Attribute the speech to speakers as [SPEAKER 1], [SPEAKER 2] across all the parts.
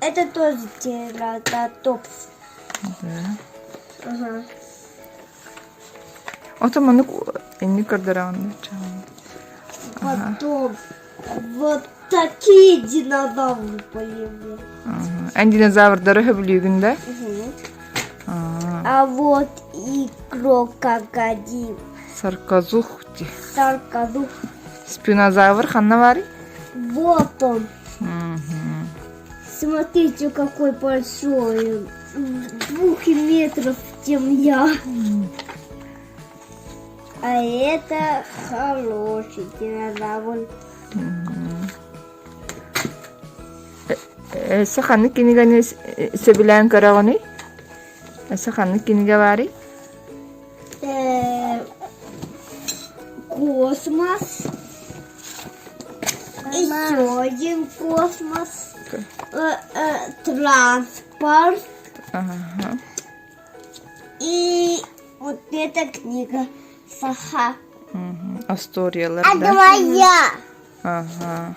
[SPEAKER 1] Это тоже тирототопс. Ото манук инник көрдөрөҕүн Потом вот такие динозавры появились. Эн динозаврдары хөбүлүүгүн да? А вот и крокодил. Сарказух. Сарказух. Спинозавр ханна баары? Вот он. Смотрите, какой большой! В двух метров, чем я. А это хороший динозавр. Эссе ханнык киниганы сөбүлээн көрөҕүнүй? Эссе ханнык кинигэ баарый? космос, исходим космос, транспорт и вот эта книга саха. Асториялар, А давай я. Ага.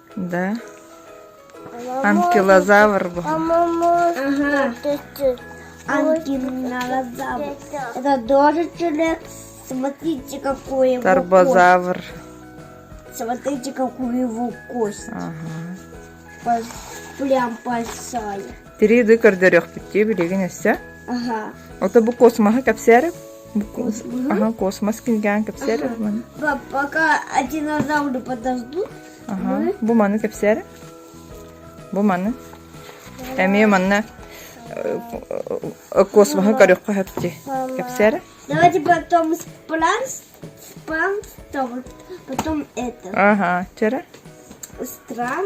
[SPEAKER 1] Да? Анкилозавр был. Анкилозавр. Это тоже человек. Смотрите, какой его Тарбозавр. Кость. Смотрите, какую его кость. Ага. Прям большая. Тириды көрдөрүөхпүттүү билигин өссө. Ага. Ото бу космоһы капсеріп? Ага, космос кинган капсеріп. Пока динозавры подождут, Бу маны кэпсээр. Бу маны. Эмиэ манна космоһы көрүөххэ хөпти. Кэпсээр. Давайте потом спланс, спланс, потом это. Ага, вчера. Стран,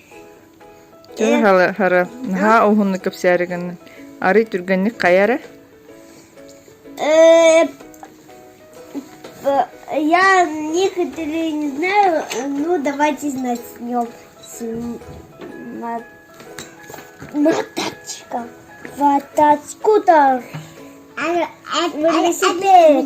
[SPEAKER 1] Һары наһаа уһуннук кэпсээри гыннын. Арый түргэнник хайа эрэ? Я не хотела, не знаю, ну давайте знать с нем моточка. Моточку-то велосипед.